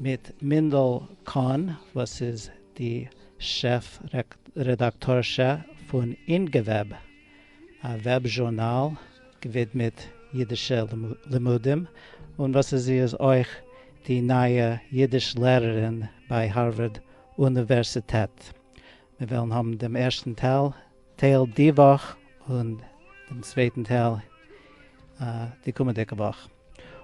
מיט מינדל קאהן וואס איז די שעף רעדאקטארשע פון אינגוועב, א וועב זשורנאל געווידמעט אידישע לימודים, און וואס איז זי איז אויך די נייע אידיש לערערין ביי הארווארד אוניווערסיטעט. מיר וועלן האבן דעם ערשטן טייל די וואך און דעם צווייטן טייל די קומענדיגע וואך.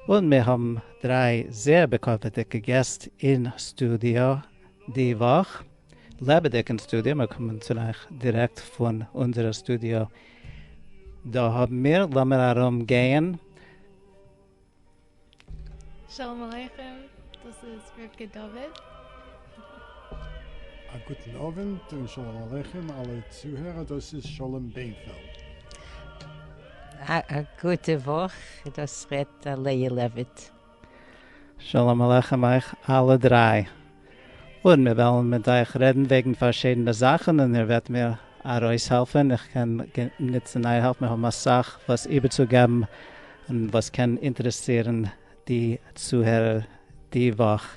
און מיר האבן דריי זעהר בכבוד'דיגע געסט אין סטודיאו די וואך, לעבעדיג אין סטודיאו, מיר קומען צו אייך דירעקט פון אונזערע סטודיאו דא האבן מיר, לאמיר ארום גייען. שלום עליכם, דאס איז רבקה דוד. א גוטן אווענט און שלום עליכם אלע צוהערער דאס איז שלום בענפעלד. א גוטע וואך דאס רעדט אלי' לעוויט. שלום עליכם אייך אלע דריי און מיר וועלן מיט אייך רעדן וועגן פארשידענע זאכן און איר וועט מיר ארויסהעלפן איך קען נוצן אייער העלף מיר האבן אסאך וואס איבערצוגעבן און וואס קען אינטערעסירן די צוהערער די וואך.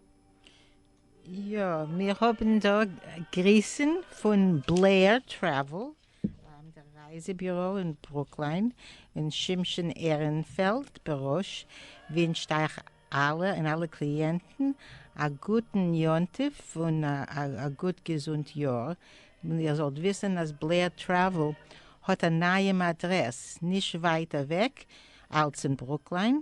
יא, מיר האבן דא גריסן פון בלעיר טרעוול, דער רייזע ביורא אין ברוקליין, און שמשון עהרענפעלד בראש ווינטשט אייך אלע און אלע קליענטן א גוטן יום טוב און א גוט געזונט יאר, איר זאלט וויסן אז בלעיר טרעוול האט א נייעם אדרעס נישט ווייט אוועק אלס אין ברוקליין,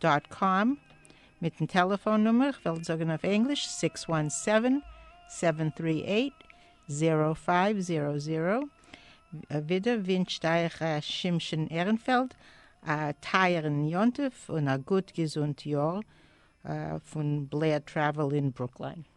דאט קאם, מיטן טעלעפאון נומער, איך וועל זאגן אויף ענגליש, סיקס וואן סעווען, סעווען טרי עיט, זירא פייוו זירא זירא. ווידער ווינטשט אייך ר' שמשון עהרענפעלד א טייערן יום טוב און א גוט געזונט יאר פון בלער טרעוועל אין ברוקליין.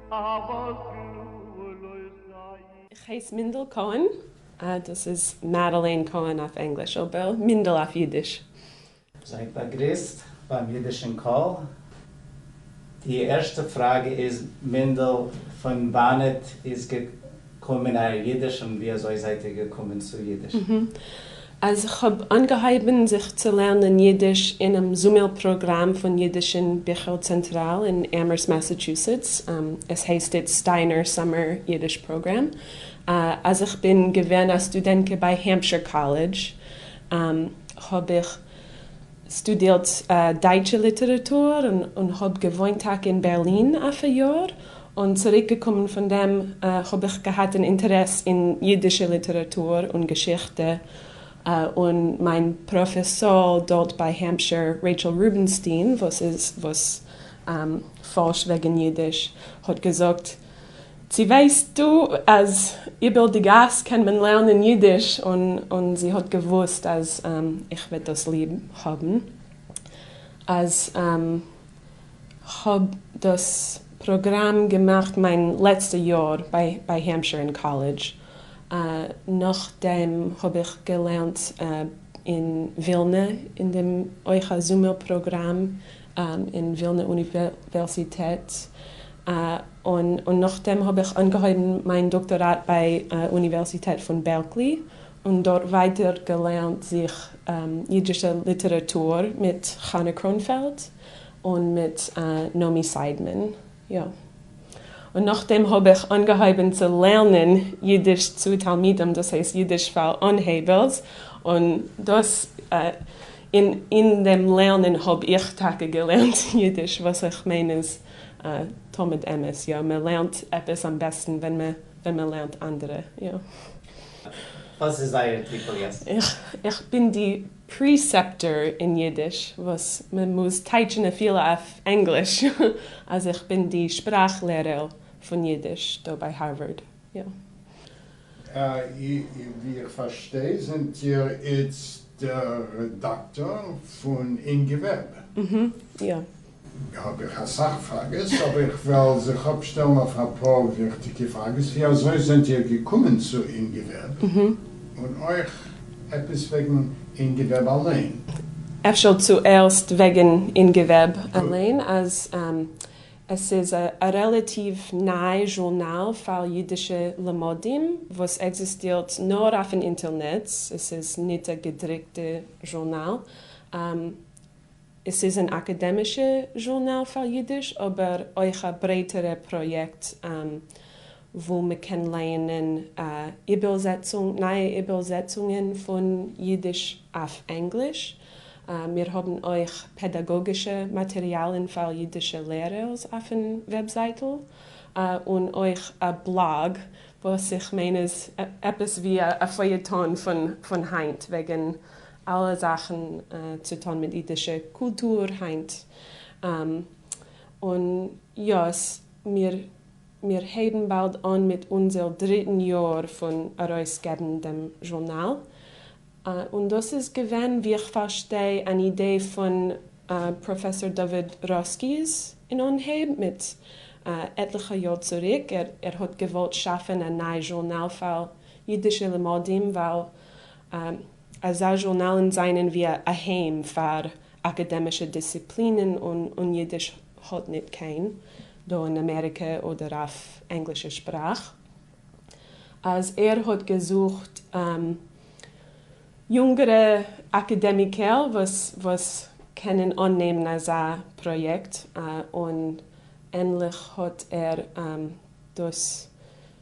איך הייס מינדל קאהן, אה דאס איז מעדעלעין קאהן אויף ענגליש, אבער מינדל אויף אידיש. זייט באגריסט ביים אידישן קול. די ערשטע פראגע איז, מינדל, פון וואנעט איז קומען אייער אידיש און ווי אזוי זייט איר געקומען צו אידיש? אז כ'האב אנגעהויבן זיך צו לערנען אידיש אינעם זומער פראגראם פון אידישן ביכל צענטראל אין אמערסט מאסעטשוסעטס, עס הייסט איצט סטיינער סאמער אידיש פראגראם, אז כ'בין געווען א סטודענטקע ביי העמפשיר קאלעדזש האב איך שטודירט דייטשע ליטעראטור און האב געוואוינט טאקע אין בערלין אויף א יאר, און צוריק געקומען פון דעם האב איך געהאט אן אינטערעס אין אידישע ליטעראטור און געשיכטע, און מיין פראפעסאר דארט ביי העמפשיר רעיטשעל רובינשטיין וואס פארשט וועגן אידיש האט געזאגט צו ווייסטו אז איבער די גאס קען מען לערנען אידיש? און זי האט געוואוסט אז איך וועט דאס ליב האבן, אז כ'האב דאס פראגראם געמאכט מיין לעצטע יאר ביי העמפשיר אין קאלעדזש, נאכדעם האב איך געלערנט אין ווילנע אין דעם אויך א זומער פראגראם אין ווילנע אוניווערסיטעט, און נאכדעם האב איך אנגעהויבן מיין דאקטאראט ביי אוניווערסיטעט פון בערקלי, און דארט ווייטער געלערנט זיך אידישע ליטעראטור מיט חנה קראונפעלד און מיט נעמי סיידמאן, יא. און נאכדעם האבעך אנגעהויבען צו לערנען אידיש צו תלמידים דאס הייסט אידיש פאר אנהייבערס און דאס און אין דעם לערנען האב איך טאקע געלערנט אידיש וואס איך מיין איז תמיד אמת יא מען לערנט עפעס אמבעסטן ווען מען ווען מען לערנט אנדערע יא. וואס איז זייער טיטל יעצט? איך בין די פּריסעפּטאָר אין ייִדיש, װאָס מע מוז טײַטשן אפֿילו אױף ענגליש, אַז איך בין די שפּראַכלערער פֿון ייִדיש דאָ בײַ האַרװאַרד, יאָ. װי איך פֿאַרשטײ, זענט איר איצט דער רעדאַקטאָר פֿון אין געװערבע? אָהאָ, יאָ. האב איך אסאך פראגעס אבער איך וועל זיך אפשטעלן אויף אפאר וויכטיגע פראגעס ווי אזוי זענט איר געקומען צו אינגעוועב און אויך עפעס וועגן אינגעוועב אליין. אפשר צוערסט וועגן אינגעוועב אליין אז עס איז א רעלעטיוו ניי זשורנאל פאר אידישע למודים וואס עקזיסטירט נאר אויפן אינטערנעץ עס איז ניט א געדריקטע זשורנאל. עס איז אן אקאדעמישע זשורנאל פאר אידיש אבער אויך א ברייטערע פראיעקט וואו מען קען לייענען איבערזעצונג, נייע איבערזעצונגען פון אידיש אויף ענגליש. מיר האבן אויך פעדאגאגישע מאטעריאלן פאר אידישע לערערס אויפן וועבזייטל, און אויך א בלאג וואס איך מיין איז עפעס ווי א פעיעטאן פון היינט וועגן אלע זאכן צו טון מיט אידישע קולטור היינט, און יא עס מיר מיר הייבן באלד אן מיט אונזעל דריטן יאר פון ארויס געבן דעם זשורנאל, און דאס איז געווען ווי איך פארשטיי אן אידעי פון פראפעסאר דוד ראסקי'ס אין אנהייב מיט עטליכע יאר צוריק, ער האט געוואלט שאפן א ניי זשורנאל פאר אידישע לימודים ווייל. אזא זשורנאלן זענען ווי א אהיים פאר אקאדעמישע דיסציפלינען און און אידיש האט ניט קיין דא אין אמעריקע אדער אויף ענגלישע שפראך. אז ער האט געזוכט יונגערע אקאדעמיקער וואס וואס קענען אננעמען אזא פראיעקט און ענליך האט ער דאס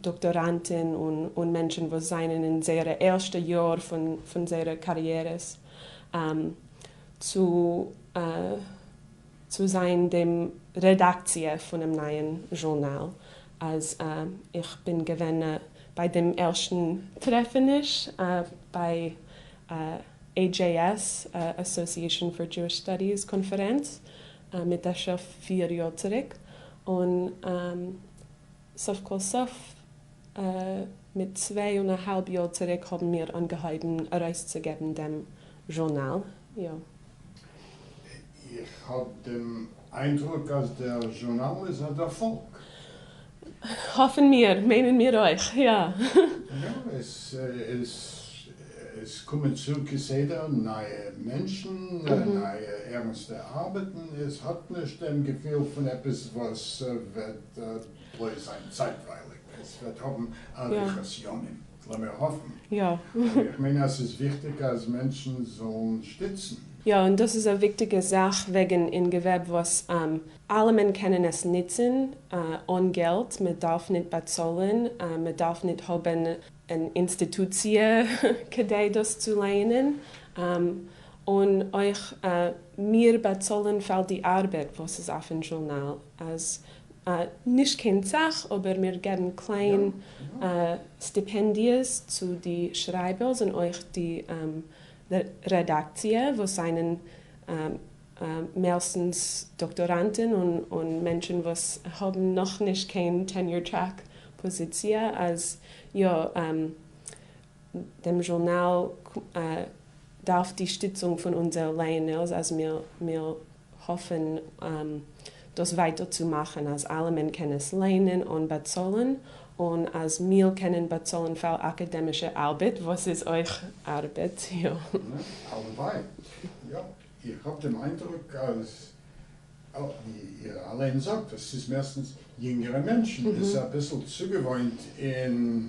דאקטאראנטן און מענטשן וואס זענען אין זייערע ערשטע יאר פון זייערע קאריערעס צו צו זיין דעם רעדאקציע פונעם נייען זשורנאל אז איך בין געווען ביי דעם ערשטן טרעפעניש ביי AJS, Association for Jewish Studies, קאנפערענץ מיט אפשר פיר יאר צוריק און סוף כל סוף מיט צוויי און א האלב יאר צוריק האבן מיר אנגעהויבן ארויסצוגעבן דעם זשורנאל, יא. איך האב דעם איינדרוק אז דער זשורנאל איז א דערפאלג. האפן מיר, מיינען מיר אויך, יא. יא, עס קומען צו כסדר נייע מענטשן, נייע ערנסטע ארבעטן, עס האט נישט דעם געפיל פון עפעס וואס וועט וועט בלויז זיין צייטווייליג, עס וועט האבן אריכות ימים, לאמיר האפן, אבער איך מיין אז ס'איז וויכטיג אז מענטשן זאלן שטיצן. יא, און דאס איז א וויכטיגע זאך וועגן אין געוועב וואס אלעמען קענען עס ניצן אן געלט, מען דארף ניט באצאלן, מען דארף ניט האבן אן אינסטיטוציע כדי דאס צו לייענען, און אויך מיר באצאלן פאר די ארבעט וואס איז אויפן זשורנאל. אז א נישט קיין סאך אבער מיר געבן קליין סטיפענדיעס צו די שרייבערס און אויך די רעדאקציע וואס זענען מערסטנס דאקטאראנטען און מענטשען וואס האבן נאך נישט קיין טעניור טרעק פאזיציע אז יא דעם זשורנאל דארף די שטיצונג פון אונזער לייענערס אז מיר האפן דאס ווייטער צו מאכן אז אלעמען קען עס ליינען אן באצאלן און אז מיר קענען באצאלן פאר אקעדעמישע ארבעט וואס איז אויך ארבעט, יא. הלוואי. יא. איך האב דעם איינדרוק אז ווי איר אליין זאגט אז ס'איז מערסטנס יונגערע מענטשן און ס'איז אביסל צוגעוואוינט אין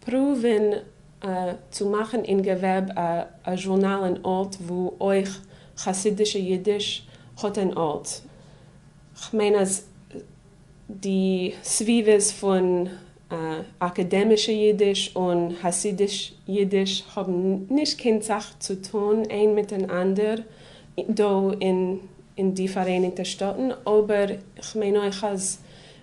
פרואווען צו מאכן אין געוועב א זשורנאל אין ארט וואו אויך חסידישע אידיש האט אין ארט, כ'מיין אז די סביבות פון אקעדעמישע אידיש און האסידיש אידיש האבן נישט קיין סאך צו טון איין מיטן אנדער דא אין די פאראייניגטע שטאטן, אבער כ'מיין אויך אז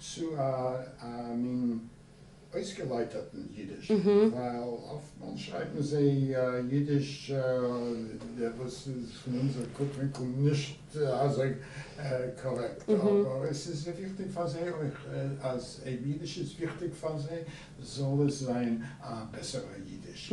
צו א מין אויסגעלייטערטן יידיש, ווייל אפטמאל שרייבן זיי יידיש וואס איז פון אונזער קוק ווינקל נישט אזוי קארעקט, אבער עס איז וויכטיג פאר זיי אויך אז אויב יידיש איז וויכטיג פאר זיי זאל עס זיין א בעסערע יידיש.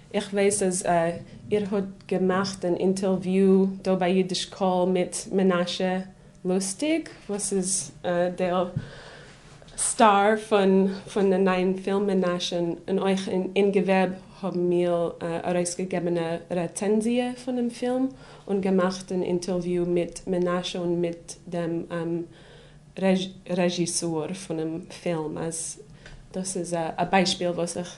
איך ווייס אז איר האט געמאכט אן אינטערוויו דא ביי אידיש קול מיט מנשה לוסטיג וואס איז דער סטאר פון די נייעם פילם מנשה און אויך אין געוועב האבן מיר ארויסגעגעבן א רעצענזיע פונעם פילם און געמאכט אן אינטערוויו מיט מנשה און מיט דעם רעזשיסאר פונעם פילם אז דאס איז א ביישפיל וואס איך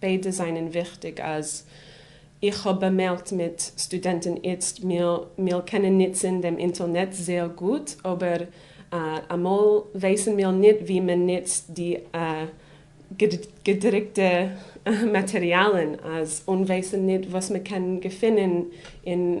ביידע זענען וויכטיג אז איך האב באמערקט מיט סטודענטן איצט מיר מיר קענען ניצען דעם אינטערנעט זעהר גוט אבער אמאל ווייסן מיר ניט ווי מען ניצט די געדריקטע מאטריאלן אז און ווייסן ניט וואס מען קען געפינען אין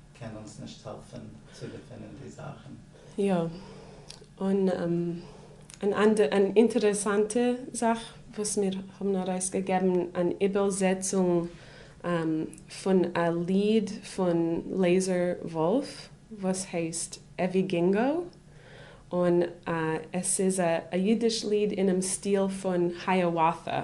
קען אונז נישט העלפען צו געפינען די זאכען. יא. און אן אינטערעסאנטע זאך וואס מיר האבן ארויסגעגעבן אן איבערזעצונג פון א ליד פון לעיזער וואלף וואס הייסט עווי גינגאו און עס איז א אידיש ליד אינעם סטיל פון היאוואטה.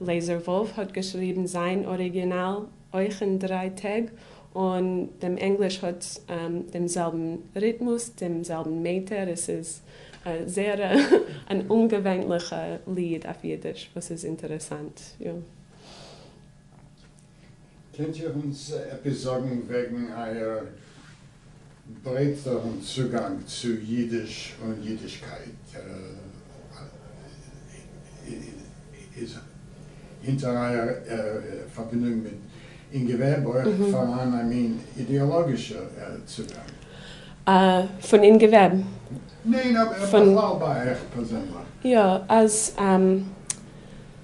לעזער וואלף האט געשריבן זיין אריגינאל אויך אין דריי טעג, און דעם ענגליש האט דעם זעלבן ריטמוס, דעם זעלבן מעטער, עס איז א זייער אן אומגעווענליכע ליד אויף אידיש וואס איז אינטערעסאנט. קענט איר אונז עפעס זאגן וועגן אייער ברייטערן צוגאנג צו אידיש און אידישקייט? איז הינטער אייער פארבינדונג מיט אינגווער אויך פארהאן א מין אידעאלאגישער צוגאנג? פון אינגווער? ניין, אבער בכלל ביי אייך פערזענליך. יא, אז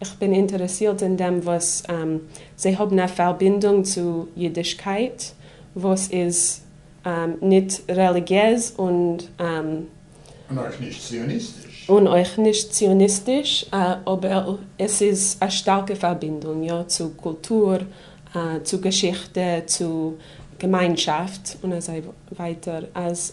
איך בין אינטערעסירט אין דעם וואס זיי האבן א פארבינדונג צו אידישקייט וואס איז ניט רעליגיעז און און אויך נישט ציוניסטיש. און אויך נישט ציוניסטיש, אבער עס איז א שטארקע פארבינדונג יא צו קולטור, צו געשיכטע, צו געמיינשאפט און אזוי ווייטער אז.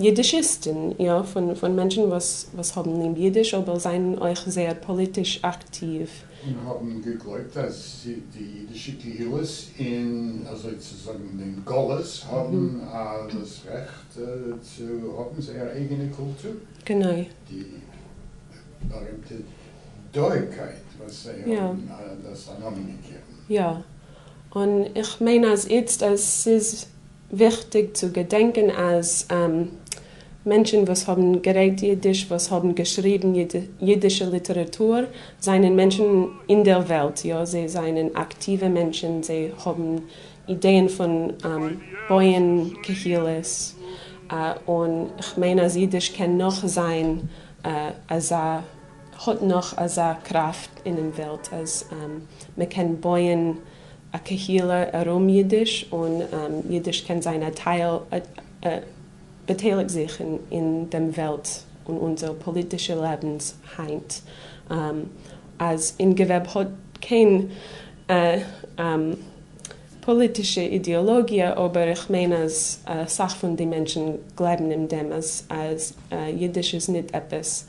יידישיסטן, יא, פון מענטשן וואס האבן ליב יידיש אבער זענען אויך זייער פאליטיש אקטיוו. און האבן געגלויבט אז די יידישע קהילות אין, אזוי צו זאגן, אין גלות האבן דאס רעכט צו האבן זייער אייגענע קולטור. גענוי. די בארימטע דאויערקייט וואס זיי האבן דאס א נאמען געגעבן. יא. און איך מיין אז איצט אז ס'איז. וויכטיג צו געדענקען אז מענטשן וואס האבן גערעדט אידיש, וואס האבן געשריבן אידישע ליטעראטור, זענען מענטשן אין דער וועלט, יא, זיי זענען אקטיווע מענטשן, זיי האבן אידעען פון בויען קהילות, און כ'מיין אז אידיש קען נאך זיין אזא, האט נאך אזא קראפט אינעם וועלט אז מ'קען בויען. א קהילה ארום אידיש און אידיש קען זיין א טייל באטייליגט זיך אין דעם וועלט און אונזער פאליטישע לעבנס היינט אז אין געוועב האט קיין פאליטישע אידעאלאגיע אבער איך מיין אז אסאך פון די מענטשן גלייבן אין דעם אז אידיש איז ניט עפעס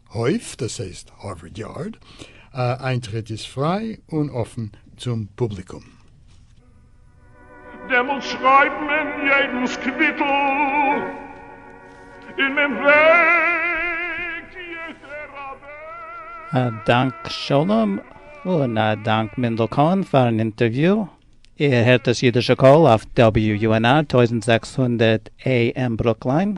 הויף, דאס הייסט הארווארד יארד, איינטריט איז פריי און אפן צום פובליקום. דעמאלט שרייבט מען יעדנס קוויטל און מען וועגט יעדער אוועק. א דאנק שלום, און א דאנק מענדל קאהן פארן אינטערוויו. איר הערט דאס אידישע קול אויף WUNR טויזנט זעקס הונדערט AM ברוקליין.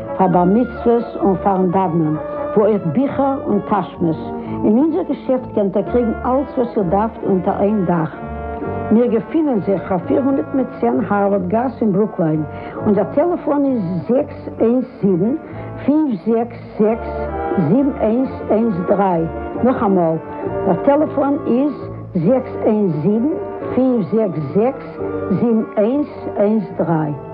פאר בר מצוות און פארן דאוונען, וואו אויך ביכער און טאשמעס. אין אונזער געשעפט קענט איר קריגן אלץ וואס איר דארפט אונטער איין דאך. מיר געפינען זיך אויף פֿיר הונדערט מיט צען הארווארד גאס אין ברוקליין. אונזער טעלעפאן איז זעקס איינס זיבן, פֿינף זעקס זעקס, זיבן איינס איינס דרײַ. נאכאמאל, דער טעלעפאן איז זעקס איינס זיבן, פֿינף זעקס זעקס, זיבן איינס איינס דרײַ.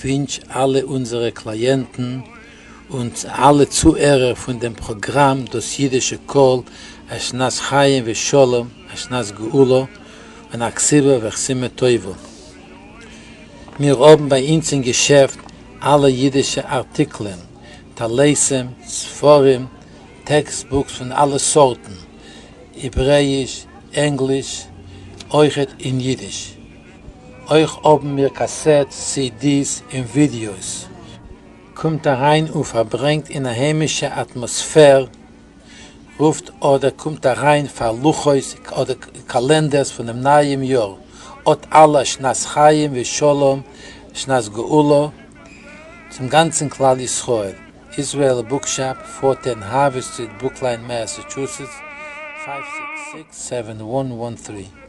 ווינטש אלע אונזערע קלייענטן און אלע צוהערער פון דעם פראגראם דאס אידישע קול א שנת חיים ושלום, א שנת גאולה און א כסבה וחסימה טובה. מיר האבן ביי אונז אין געשעפט אלע אידישע ארטיקלען, טליתים, ספרים, טעקסט בוקס פון אלע סארטן, העברעאיש, ענגליש, אויכעט אין אידיש. אויך האבן מיר קאסעטס, סידיס און ווידיאוס. קומט אריין און פארברענגט אין א היימישע אטמאספער, רופט אדער קומט אריין פאר לוחות אדער קאלענדערס פונעם נייעם יאר, אות אלע שנת חיים ושלום שנת גאולה צום גאנצן כלל ישראל, איזרעאל בוק שאפ, פארטען הארווי סטריט ברוקליין מעסעטשוסעטס, פייוו סיקס סיקס סעווען וואן וואן טרי.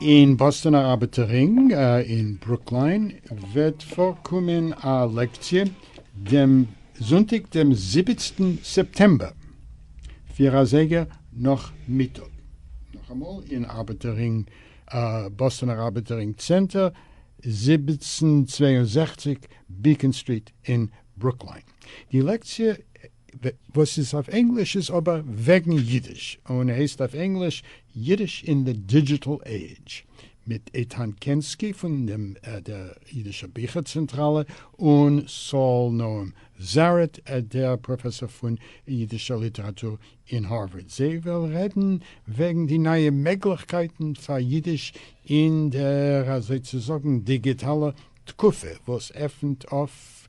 אין באסטאנער ארבעטער רינג אין ברוקליין וועט פארקומען א לעקציע דעם זונטאג דעם זיבעצן סעפטעמבער פֿיר אזייגער נאכמיטאג נאכאמאל אין ארבעטער רינג באסטאנער ארבעטער רינג צענטער זיבעצן צוויי און זעכציק בעיקאן סטריט אין ברוקליין די לעקציע וואס איז אויף ענגליש איז אבער וועגן אידיש און הייסט אויף ענגליש Yiddish in the Digital Age מיט איתן קענסקי פון דעם דער אידישער ביכער צענטראלע און סאל נועם זארעט דער פראפעסאר פון אידישער ליטעראטור אין הארווארד זיי וועלן רעדן וועגן די נייע מעגליכקייטן פאר אידיש אין דער אזוי צו זאגן דיגיטאלער תקופה וואס עפנט אויף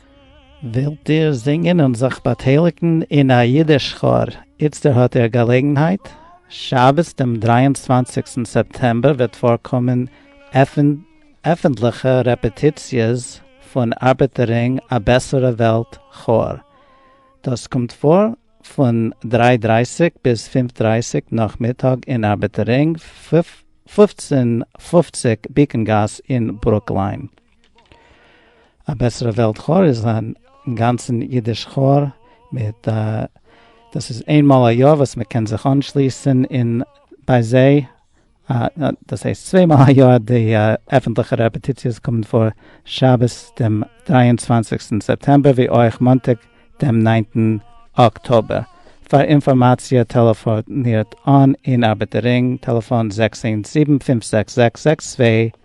ווילט איר זינגען און זיך באטייליגן אין א אידיש כאר? איצטער האט איר געלעגנהייט! שבת דעם דרײַ און צוואַנציק סעפטעמבער וועט פארקומען עפנטליכע רעפעטיציעס פון ארבעטערינג א בעסערע וועלט כאר. דאס קומט פאר פון דרײַ דרײַסיק ביז פֿינף דרײַסיק נאכמיטאג אין ארבעטערינג פֿופֿצן פֿופֿציק בעיקאן גאס אין ברוקליין. א בעסערע וועלט כאר איז א גאנצן אידיש כאר מיט א דאס איז איינמאל א יאר וואס מ'קען זיך אנשליסן אין ביי זיי דאס הייסט צוויי מאל א יאר די עפענטליכע רעפעטיציעס קומען פאר שבת דעם דרײַ און צוואַנציק סעפטעמבער ווי אויך מאנטאג דעם נײַנטן אקטאבער פאר אינפארמאציע טעלעפאנירט אן אין ארבעטער רינג טעלעפאן זעקס איינס זיבן פֿינף זעקס זעקס זעקס צוויי.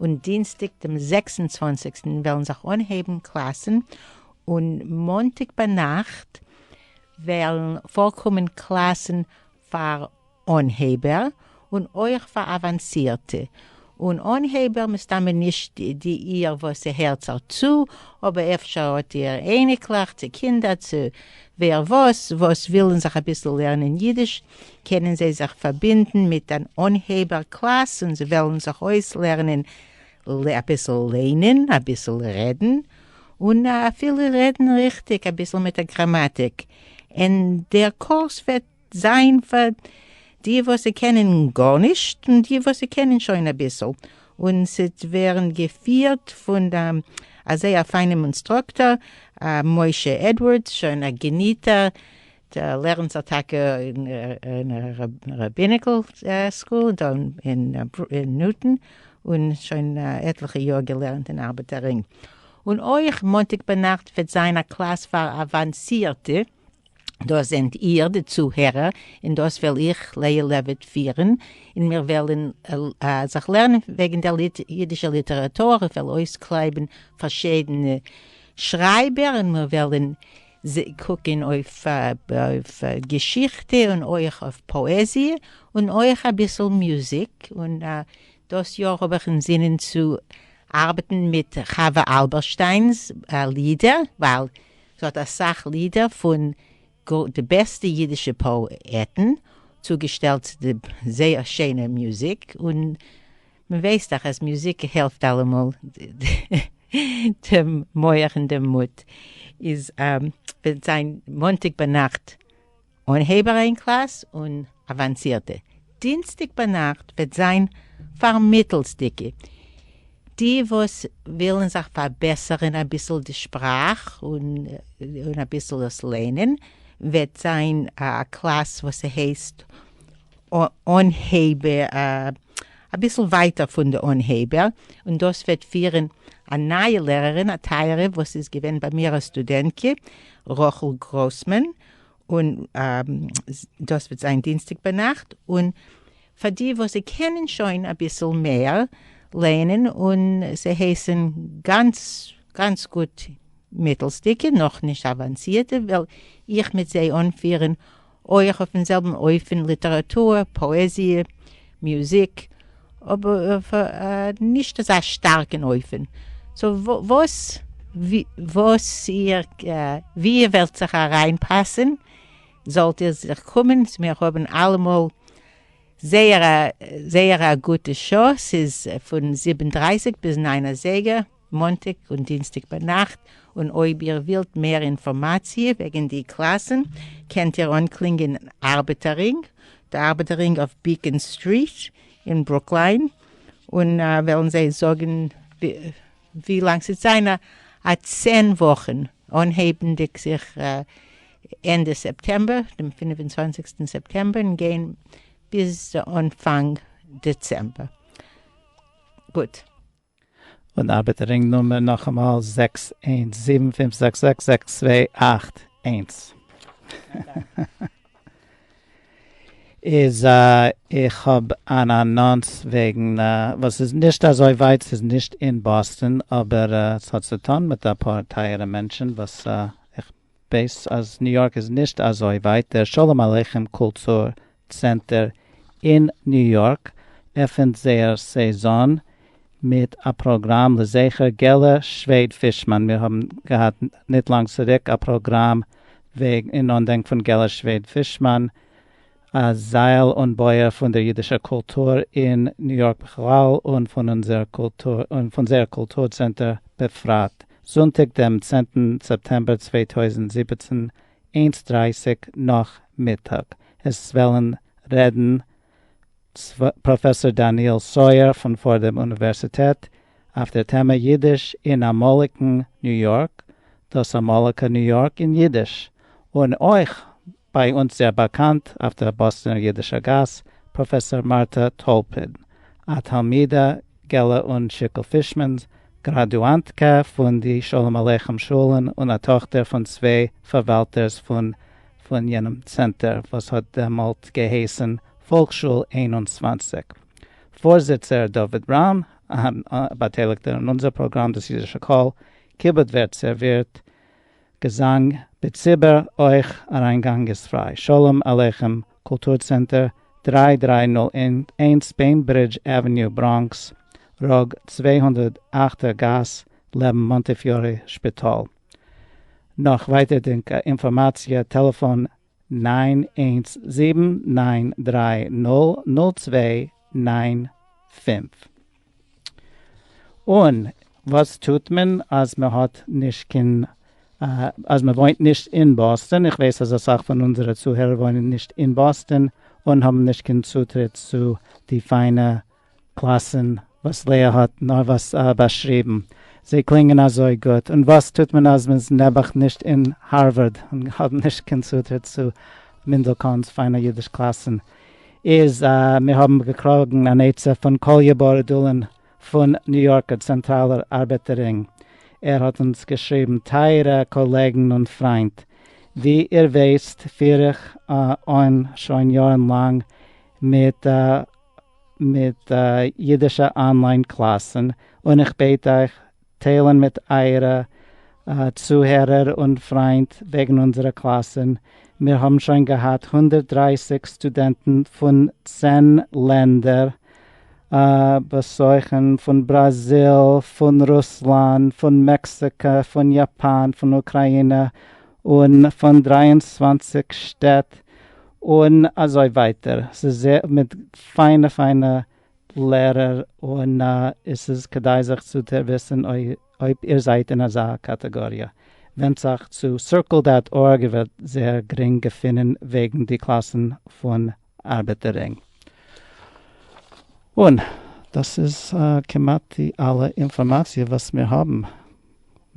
און דינסטאג דעם זעקס און צוואַנציק וועלן זיך אנהייבן קלאסן, און מאנטאג ביינאכט וועלן פארקומען קלאסן פאר אנהייבער און אויך פאר אוואנסירטע, און אנהייבער מסתמא נישט די איהר וואס ס'הערט זיך צו, אבער אפשר האט איהר אייניקלעך צו קינדער צו ווער וואס, וואס ווילן זיך אביסל לערנען אידיש, קענען זיי זיך פארבינדן מיט אן אנהייבער קלאס און זיי וועלן זיך אויסלערנען אביסל ליינען, אביסל רעדן, און אפילו רעדן ריכטיג אביסל מיט א גראמאטיק, אין דער קורס וועט זיין פאר די וואס קענען גארנישט און די וואס קענען שוין אביסל, און ס'עט ווערן געפירט פון א זייער פיינעם אונסטראקטאר, משה עדווארדס, שוין א געניטער לערנט ער טאקע אין ראביניקעל סקול דא אין נוטאן, און שוין עטליכע יאר געלערנט אין ארבעטער רינג. און אויך מאנטאג ביינאכט וועט זיין א קלאס פאר אוואנסירטע, דאס זענט איר די צוהערער, און דאס וועל איך, לאה לעוויט, פירן, און מיר וועלן זיך לערנען וועגן דער אידישער ליטעראטור, איך וועל אויסקלייבן פארשידענע שרייבער און מיר וועלן זיי קוקן אויף געשיכטע און אויך אויף פאעזיע און אויך אביסל מוזיק, און דאס יאר האב איך אינזינען צו ארבעטן מיט חוה אלברשטיינ'ס לידער, ווייל זי האט אסאך לידער פון די בעסטע אידישע פאעטן צוגעשטעלט צו די זייער שיינע מוזיק, און. מ'ווייסט דאך אז מוזיק העלפט אלעמאל דעם מח און דעם מוט. איז וועט זיין מאנטאג ביינאכט אנהייב אריין קלאס און אוואנסירטע. דינסטאג ביינאכט וועט זיין פאר מיטלסדיגע, די וואס ווילן זיך פארבעסערן אביסל די שפראך און אביסל עס לערנען, וועט זיין א קלאס וואס ס'הייסט. אנהייבער, אביסל ווייטער פון די אנהייבער, און דאס וועט פירען א נייע לערערין א טייערע וואס איז געווען ביי מיר א סטודענטקע רחל גראסמאן, און דאס וועט זיין דינסטאג ביינאכט, און פאר די וואס זיי קענען שוין אביסל מער לערנען, און זיי הייסען גאנץ גאנץ גוט מיטעלסדיגע נאכנישט אוואנסירטע וועל איך מיט זיי אנפירען אויך אויפן זעלבן אופן ליטעראטור, פאעזיע, מוזיק, אבער נישט אזא שטארקן אופן. סאו וואו איר וועלט זיך אריינפאסן זאלט איר זיך קומען, מיר האבן אלעמאל זייער א גוטע שעה, ס'איז פון זיבן דרייסיג ביז ניין אזייגער. מאנטאג און דינסטאג ביינאכט, און אויב איר ווילט מער אינפארמאציע וועגן די קלאסן קענט איר אנקלינגען אין ארבעטער רינג, די ארבעטער רינג אויף ביקען סטריט אין ברוקליין, און וועלן זיי זאגן ווי לאנג ס'וועט זיין, א צען וואכן, אנהייבנדיג זיך ענדע סעפטעמבער, דעם פֿינף און צוואַנציק סעפטעמבער, און גיין ביז אנפאנג דעצעמבער. גוט. און ארבעט רינג נומער נאכאמאל זעקס איינס זיבן פֿינף זעקס זעקס זעקס צוויי אַכט איינס. איז איך האב אן אנאנס וועגן וואס ס'איז נישט אזוי ווייט ס'איז נישט אין באסטאן אבער ס'האט צוטאן מיט אפאר טייערע מענטשן וואס איך בעת אז ניו יארק איז נישט אזוי ווייט, דער שלום עליכם קולטור צענטער אין ניו יארק עפענט זייער סעזאן מיט א פראגראם לזכר געלע שוועד פישמאן, מיר האבן געהאט ניט לאנג צוריק א פראגראם אין אנדענק פון געלע שוועד פישמאן א זייל און בויער פון דער יידישער קולטור אין ניו יארק בכלל און פון אונזער קולטור און פון זייער קולטור צענטער בפרט, זונטאג דעם צענטן סעפטעמבער צוויי טויזנט זיבעצן, איינס דרייסיג נאכמיטאג. עס וועלן רעדן צוויי פראפעסאר דניאל סויער פון פארדעם אוניווערסיטעט אויף דער טעמע יידיש אין אמאליגן ניו יארק, דאס אמאליגע ניו יארק אין יידיש, און אויך ביי אונז זייער באקאנט אויף דער באסטענער אידישער גאס, פראפעסאר מארטא טאלפין, א תלמידה געלע און שיקל פישמאן'ס, גראדואנטקע פון די שלום עליכם שולן און א טאכטער פון צוויי פארוואלטערס פון פון יענעם צענטער וואס האט דעמאלט געהייסן פאלקשול איין און צוואַנציק. פארזיצער דוד בראון, א באטייליגטער אין אונזער פראגראם דאס אידישע קול, כיבוד ווערט סערווירט געזאנג, בציבור אויך אריינגאנג איז פריי. שלום עליכם קולטור צענטער דרײַ דרײַ נול איינס בעינברידזש עוועניו בראנקס ראג צוויי הונדערט אַכט ער גאס לעבן מאנטיפיורי שפיטאל נאך ווייטערדינקע אינפארמאציע טעלעפאן נײַן איינס זיבן נײַן דרײַ נול נול צוויי נײַן פֿינף. און וואס טוט מען אז מען האט נישט קיין אז מען וואוינט נישט אין באסטאן, איך ווייס אז אסאך פון אונזערע צוהערער וואוינען נישט אין באסטאן און האבן נישט קיין צוטריט צו די פיינע קלאסן וואס לאה האט נארוואס באשריבן, זיי קלינגען אזוי גוט, און וואס טוט מען אז מען איז נעבעך נישט אין הארווארד און האט נישט קיין צוטריט צו מינדלקאנ'ס פיינע אידיש קלאסן, איז מיר האבן געקראגן אן עצה פון קאליע בארדולין פון ניו יארקער צענטראלער ארבעטער רינג, ער האט אונז געשריבן, טייערע קאלעגן און פריינט, ווי איר ווייסט פיר איך אן שוין יארן לאנג מיט. מיט אידישע אנליין קלאסן, און איך בעט אייך טיילן מיט אייערע צוהערער און פריינט וועגן אונזערע קלאסן, מיר האבן שוין געהאט הונדערט דרײַסיק סטודענטן פון צען לענדער באזוכן, פון בראזיל, פון רוסלאנד, פון מעקסיקא, פון יאפאן, פון אוקראינע, און פון דרײַ און צוואַנציק שטעט און אזוי ווייטער, ס'איז זעהר מיט פיינע פיינע לערער און עס איז כדאי זיך צו דערוויסען אויב איר זייט אין אזא קאטעגאריע, ווענדט זיך צו סירקעל דאט ארג איר וועט זעהר גרינג געפינען וועגען די קלאסען פון. ארבעט ער ענג. און דאס איז כמעט די אלע אינפארמאציע וואס מיר האבן.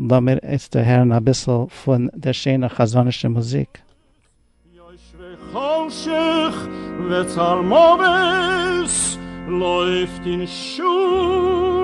לאמיר איצטער הערן אביסל פון דער שענער חזנ'ישער מוזיק. יושבי חושך וצלמוות לויפט אין שול.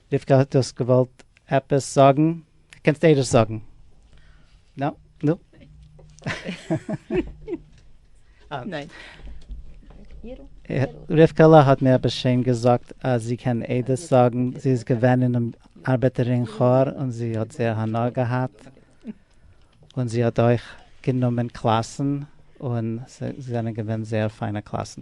רבקה האט דאס געוואלט עפעס זאגן, קענסט ערשט זאגן. נא נא. רבקה'לע האט מיר עפעס שיין געזאגט אז זי קען עדות זאגן, זי איז געווען אינעם ארבעטערין כאר און זי האט זייער הנאה געהאט, און זי האט אויך גענומען קלאסן און זיי זענען געווען זייער פיינע קלאסן.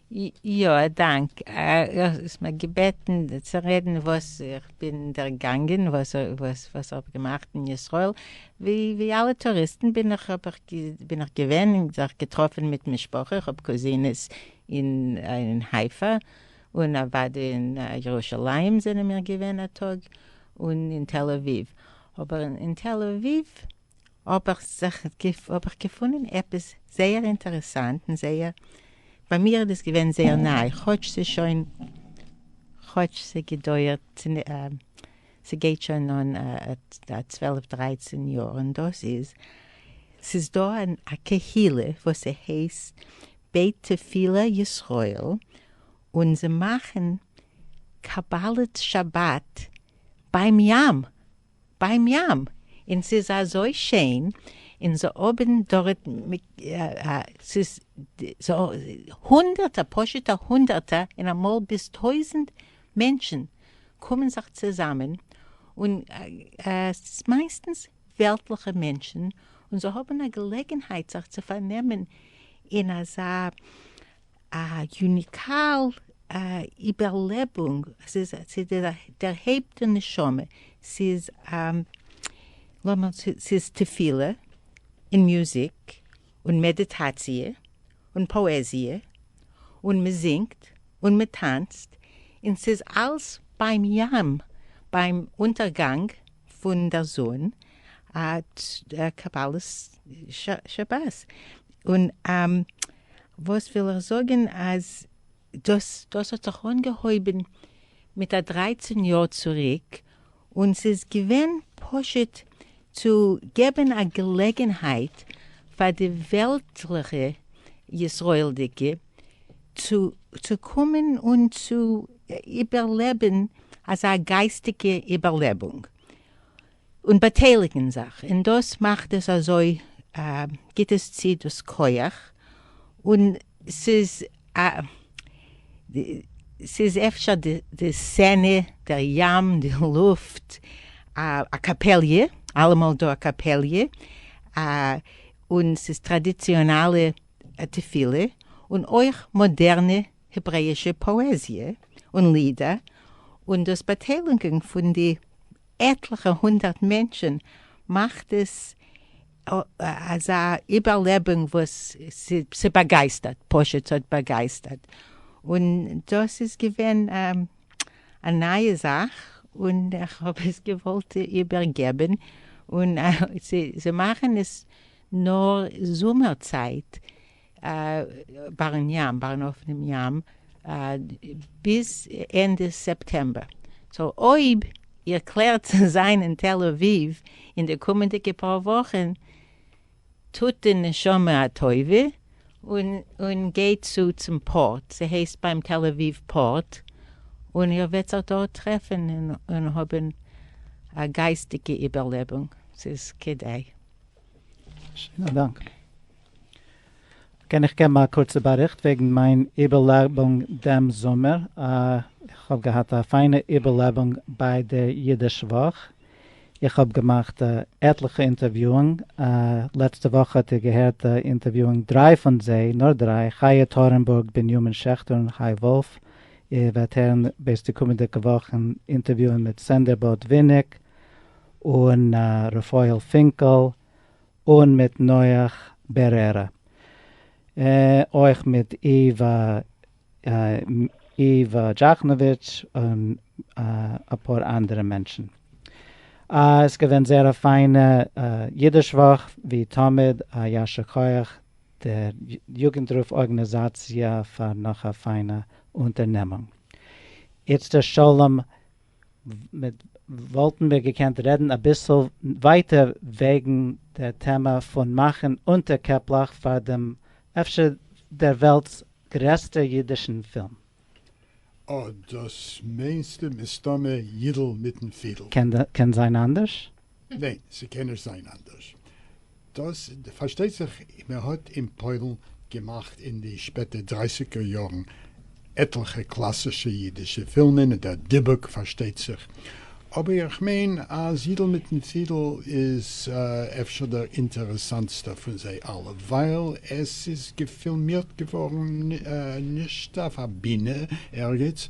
יא, א דאנק. האסט מיר געבעטן צו רעדן וואס איך בין דערגאנגען, וואס איך האב געמאכט אין ישראל. ווי אלע טוריסטן בין איך געווען און זיך געטראפן מיט משפחה, איך האב קוזינעס אין חיפה, און אוודאי אין ירושלים זענען מיר געווען א טאג, און אין תל אביב. אבער אין תל אביב האב איך זיך האב איך געפונען עפעס זייער אינטערעסאנט און זייער ביי מיר איז דאס געווען זייער ניי כאטש ס'איז שוין כאטש ס'געדויערט ס'גייט שוין אן צוועלף דרייצען יאר און דאס איז ס'איז דא א קהילה וואס ס'הייסט בית תפילה ישראל און זיי מאכן קבלת שבת ביים ים! ביים ים, אין ס'איז אזוי שיין, אין זיי האבען דארט ס'איז הונדערטער פשוטע הונדערטער אין אמאל ביז טויזענט מענטשען קומען זיך צוזאמען, און ס'איז מייסטענס וועלטליכע מענטשען, און זיי האבען א געלעגענהייט זיך צו פארנעמען אין אזא א יוניקאל איבערלעבונג, ס'איז דערהייבט די נשמה, ס'איז לאמיר ס'איז תפילה און מוזיק און מעדיטאציע און פאעזיע און מ'זינגט און מ'טאנצט און ס'איז אלס ביים ים ביים אונטערגאנג פון דער זון קבלת שבת און וואס וויל איך זאגען אז דאס. דאס האט זיך אנגעהויבען מיט א דרייצען יאר צוריק און ס'איז געווען פשוט צו געבען א געלעגענהייט פאר די וועלטליכע ישראלדיגע צו צו קומען און צו איבערלעבען אזא גייסטיגע איבערלעבונג און באטייליגן זיך, און דאס מאכט עס אזוי גיבט עס צי דאס כח, און ס'איז א ס'איז אפשר די סצענע, דער ים, די לופט, א קאפעליע, אלעמאל דא א קאפעליע, און ס'איז טראדיציאנאלע תפילה, און אויך מאדערנע העברעאישע פאעזיע און לידער, און דאס באטיילונגען פון די. עטליכע הונדערט מענטשען מאכט עס אזא איבערלעבונג וואס ס'באגייסטערט פשוט ס'האט באגייסטערט און דאס איז געווען א נייע זאך און איך האב עס געוואלט איבער געבען און זיי מאכען עס נאר זומער צייט בארן ים, בארן אויפן ים, ביז ענדע סעפטעמבער. סאו אויב איר קלערט צו זיין אין תל אביב אין די קומענדיגע פאר וואכן, טוט די נשמה א טובה און גייט צו צום פארט, ס'הייסט ביים תל אביב פארט, און איר וועט זיך דארט טרעפן און האבן א גייסטיגע איבערלעבונג, ס'איז כדאי. שיינע דאנק. קען איך געבן א קורצע באריכט וועגן מיין איבערלעבונג דעם זומער? איך האב געהאט א פיינע איבערלעבונג ביי דער אידיש וואך. איך האב געמאכט עטליכע אינטערוויאונג. לעצטע וואך האט איר געהערט אינטערוויאונג דריי פון זיי, נאר דריי, חיה טארנבורג, בנימין שעכטער און חי וואלף. איר וועט הערן בעת די קומענדיגע וואכן אינטערוויאון מיט סענדער בארט וויניג. און רפאל פינקעל און מיט נח בערערא אויך מיט איווא איווא דזשאכנאוויטש און אפאר אנדערע מענטשן. איז געווען זייער א פיינע אידיש וואך ווי תמיד א ישר כח דער יוגענטרוף ארגענעזאציע פאר נאך א פיינע אונטערנעמונג. איצטער שלום וואלטן מיר געקענט רעדן אביסל ווייטער וועגן דער טעמע פון מאכן אונטערקעפלעך פאר דעם אפשר דער וועלט'ס גרעסטער אידישן פילם. אה, דאס מיינסטו מסתמא יידל מיטן פידל. קען זיין אנדערש? ניין, ס'קען נישט זיין אנדערש. דאס פארשטייט זיך, מען האט אין פוילן געמאכט אין די שפעטע דרייסיגער יארן עטליכע קלאסישע אידישע פילמען, און דער דיבוק פארשטייט זיך, אבער איך מיין אז יידל מיטן פידל איז אפשר דער אינטערעסאנטסטער פון זיי אלע, ווייל עס איז געפילמירט געווארן נישט אויף א בינע ערגעץ,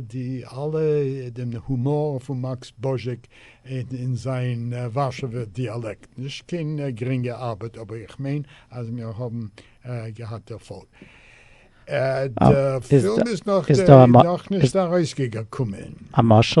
די אלע דעם הומאר פון מאקס בוזשעק אין זיין ווארשעווער דיאלעקט, נישט קיין גרינגע ארבעט אבער איך מיין אז מיר האבן געהאט דערפאלג. די פילם איז נאך נישט ארויסגעקומען. א משל?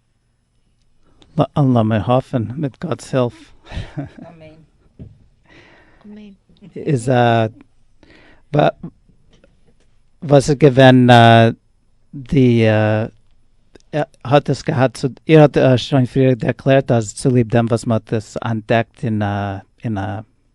לאמיר האפן מיט גאט'ס הילף איז א וואס איז געווען די האט עס געהאט צו איר האט שוין פריער ערקלערט אז צוליב דעם וואס מען האט עס אנטדעקט אין א.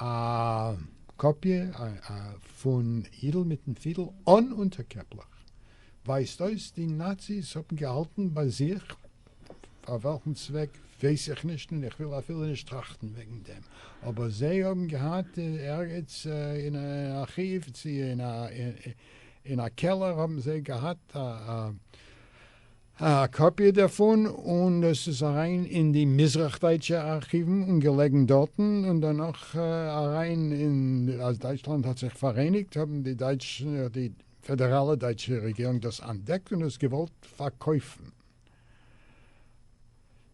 א קאפיע פון אידל מיטן פידל אן אונטערקעפלעך ווייזט אויס די נאציס האבן געהאלטן ביי זיך, פאר וועלכן צוועק ווייס איך נישט און איך וויל אפילו נישט טראכטן וועגן דעם, אבער זיי האבן געהאט ערגעץ אין א ארכיוו צי אין א קעלער האבן זיי געהאט א. א קאפיע דערפון און עס איז אריין אין די מזרח דייטשע ארכיוון און געלעגן דארטן און דערנאך אריין אין אז דייטשלאנד האט זיך פאראייניגט האבן די דייטשע די פעדעראלע דייטשע רעגירונג דאס אנטדעקט און עס געוואלט פארקויפן.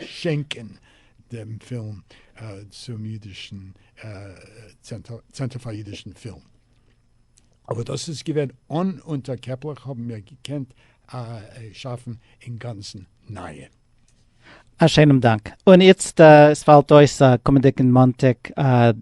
שענקען דעם פילם צום אידישן צענטער פאר אידישן פילם. אבער דאס איז געווען אן אונטערקעפלעך האבן מיר געקענט שאפן אינגאנצן נייע. א שיינעם דאנק. און איצט עס פאלט אויס קומענדיגן מאנטאג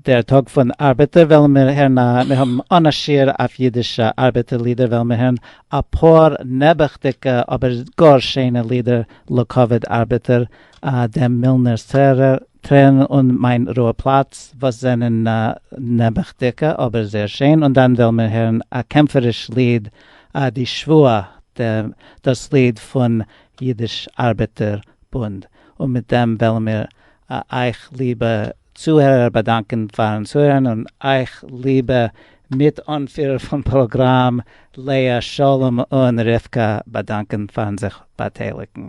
דער טאג פון ארבעטער וועלן מיר הערן א מיר האבן אן א שיעור אויף אידישע ארבעטער לידער וועלן מיר הערן אפאר נעבעכדיגע אבער גאר שענע לידער לכבוד ארבעטער, דעם מילנער'ס טרערן און מיין רוה פלאץ, וואס זענען נעבעכדיגע אבער זייער שען, און דאן וועלן מיר הערן א קעמפעריש ליד, די שבועה, דאס ליד פון אידיש ארבעטער בונד, און מיט דעם וועלן מיר א אייך ליבע צוהערער באדאנקען פארן צוהערן און אייך ליבע מיט אנפירער פון פראגראם לאה שלום און רבקה באדאנקען פארן זיך באטייליגן.